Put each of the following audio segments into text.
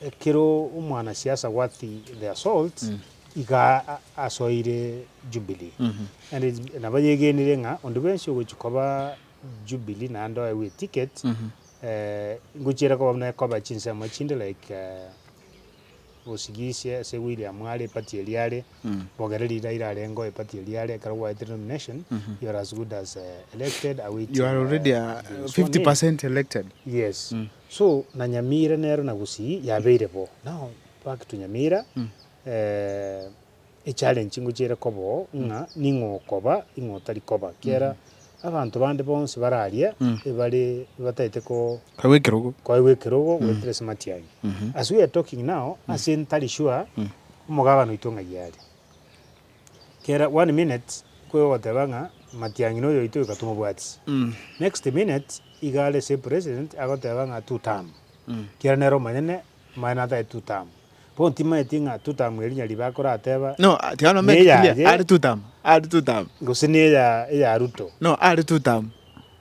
Ekero omwanasiasa Worth their salt iga asoire Jubilee, and nabayegenire ng'a onde bwensi ogochia koba Jubilee naende oewe eticket, ngochia ere koba buna ekoba chinsemo chinde like Osigisia ase William are eparty eria are, Bogere Ridaira arengeo eparty eria are, ekero gwaetire nomination you are as good as elected awaiting being sworn in. Yes. So na Nyamira nero na Gusii yabeire bo. Now back to Nyamira eh, echallenge ngochiere koba oo ng'a ning'o okoba ning'o otari koba kiera abanto bande bonsi bare aria ebare bataete ko Kaigwa ekerogo. koegwa ekerogo goetera ase matiangi. As we are talking now ase ntari sure omogabane oito ng'ai are. Kera one minute kwe ogoteba ng'a Matiang'i noyo oito iga tomobwati. Next minute iga are same president agoteba ng'a two term. Kera nere omonyene maya nataete two term. Bono timaeti ng'a two term eri nyaribi akorateba No, ah, tiga no make it clear. Neyaye. Are two term. Are two term. gose neya eya Ruto. No, are two term.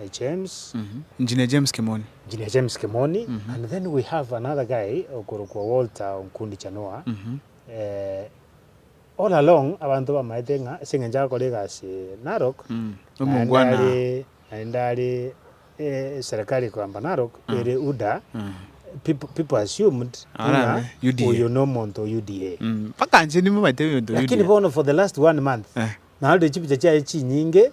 I James. Engineer James Kimoni. Engineer James Kimoni and then we have another guy okorokwa Walter Onkundi Chanua eh, all along abanto bamaete ng'a ase eng'encho agakora egasi Narok naende are naende are eh, serikali ekoamba Narok ere UDA people people assumed ng'a oyo nomonto o UDA mpaka inche nimaete oyo omonto o UDA lakini bono for the last one month narorire chipicha chiaye chinyinge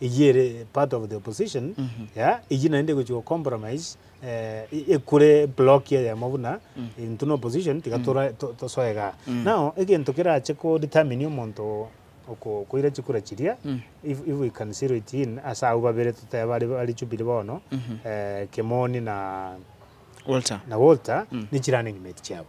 Eyio ere part of the opposition ya eyio naende egochia go compromise ekure block eyemo buna intwe na opposition tiga tosoe igaa. Now egento kerache ko determine omonto okoira chikura chiria if we can zero it in ase abwo babere totebe bare Jubilee bono Kimani na Walter nichirane nyuma eti chiabo.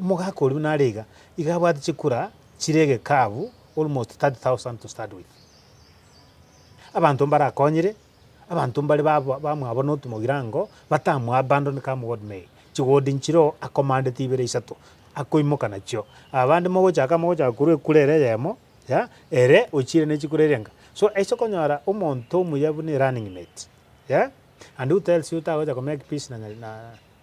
Omogaka oria buna are iga, iga abwate chikura chire egekabu almost 30,000 to start with. Abanto mbarakonyire, abanto mbare ba ba bamwabo na otomogirango, batamoabandon come what may, chigodi nchire oo akomandete ibere isato, akoimoka nachio. Abande mogochaka mogochaka korwa ekura ere eyemo, ya ere ochire ne chikura eria enga. So ase okonyora omonto omuya buna erunning mate, ya and who tells you tagocha komake peace na nya na.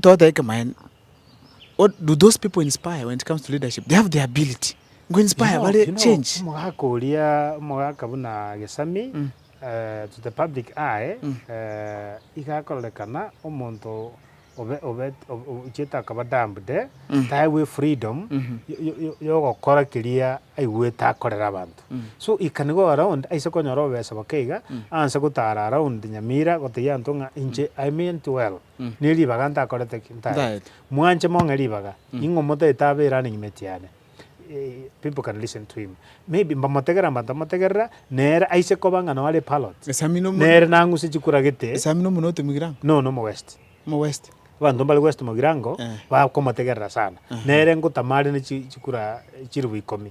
Toteba ekemanyererio, what do those people inspire when it comes to leadership? They have the ability go inspire bare change. Omogaka oria, omogaka buna Gesami, to the public eye, iga akororekana omonto obe, obe, ochiete akaba dumped, taegwe freedom yogokora keria aigwete akorere abanto. So he can go around aise konyora obobesa boke iga, anse gotara around Nyamira gotebia abanto ng'a inche I meant well. ne ribaga ntakorete ki? Ntaete. Ntaete. Mwanche mong'e ribaga, Mm. ning'o motaete abe eraning' emeti yane? Eh, people can listen to him. Maybe mbamotegerera mbantamotegerera, nere aise koba ng'a noare parrot, Esami nomo- nere nang'use chikura gete, Esami nomo note Mugirango. no nomo west. Mo west. Abanto mbare west Mogirango, Eh. bakomotegerera sana. Aha. Nere ngotama are ne chi- chikura chiribu ikomi.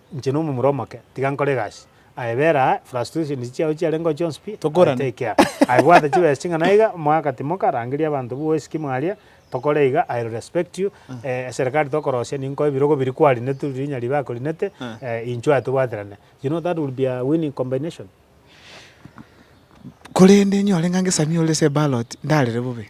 Inche nomomura omoke, tiga nkore egasi. Aye bera aa, frustrations chiao chiarengeo chionsi pi, I Tokorane. take care. Aye bwata chibesa ching'ana iga, omwaka timoka, rangeria abanto bwoesiki mwaria, tokore iga, I'll respect you, eh, eserekari tokorosia, ninkoe ebirogo biri kwarinetu, rinya ribe akorinete, eh, inchuo aye tobwaterane. You know that will be a winning combination. Korende nyore ng'a ngesamia ore ase eballot, ndarere bobe.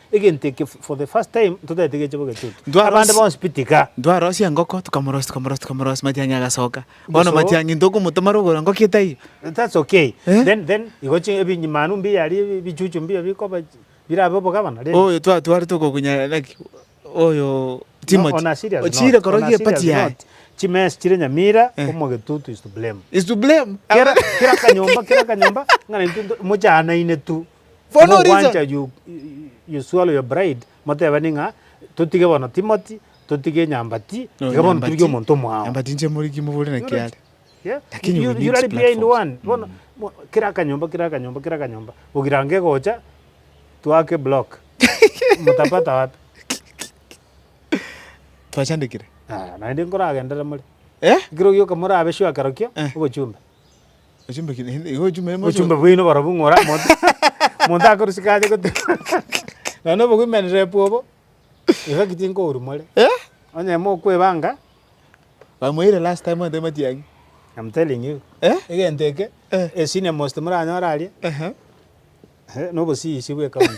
Egento eke for the first time ntotaete geche bo getutu. Abande Ntwarosi- bonsi pi tiga. Ntwarosia engoko, tokamorosia, tokamorosia, tokamorosia, matiang'i agasoka. Bono Geso. matiang'i ntokomotoma rogoro engoko etaiyo. That's okay. Eh? Then then igo chi ebinyi manu mbiya ari ebichuchu mbiya bikoba chi- birabe obogabana rende. Oyo twatwarete okokunyara naki, oyo No, Timothy. on a serious note, Ochiire on a korogia serious epati yaye. note, Chimesi chire Nyamira, Eh. omogetutu is to blame. Is to blame. Kera kera kanyomba kera kanyomba ng'a naintwe nto- mochaanaine tu. Timogwancha Yoshua oyo bride, motebani ng'a totige bono Timothy, totige nyambati, iga bono totige omonto omwao. Nyambati inche moriki mobore naki are. Lakini we need platforms. Bono kera akanyomba kera akanyomba kera akanyomba ogirange gocha twake block mtapata wapi? Twachandekire. Naende nkoragendere more. Ekero ogioka morabe sure kerokio obochumbe. Ochumbe ki? Igo ochumbe ime Ochumbe bwaino barobwo ng'ora omonto omonto akorusika aye goteema nonya obo-women rep obo, iga ki tinkourwa more. Eh? Onye mokwebanga, Bamoire last time ante matiang'i. I'm telling you. Eh? Egento eke, Eh. a senior most moranyore aria, Ehe. eh, nobosiisi bwe county.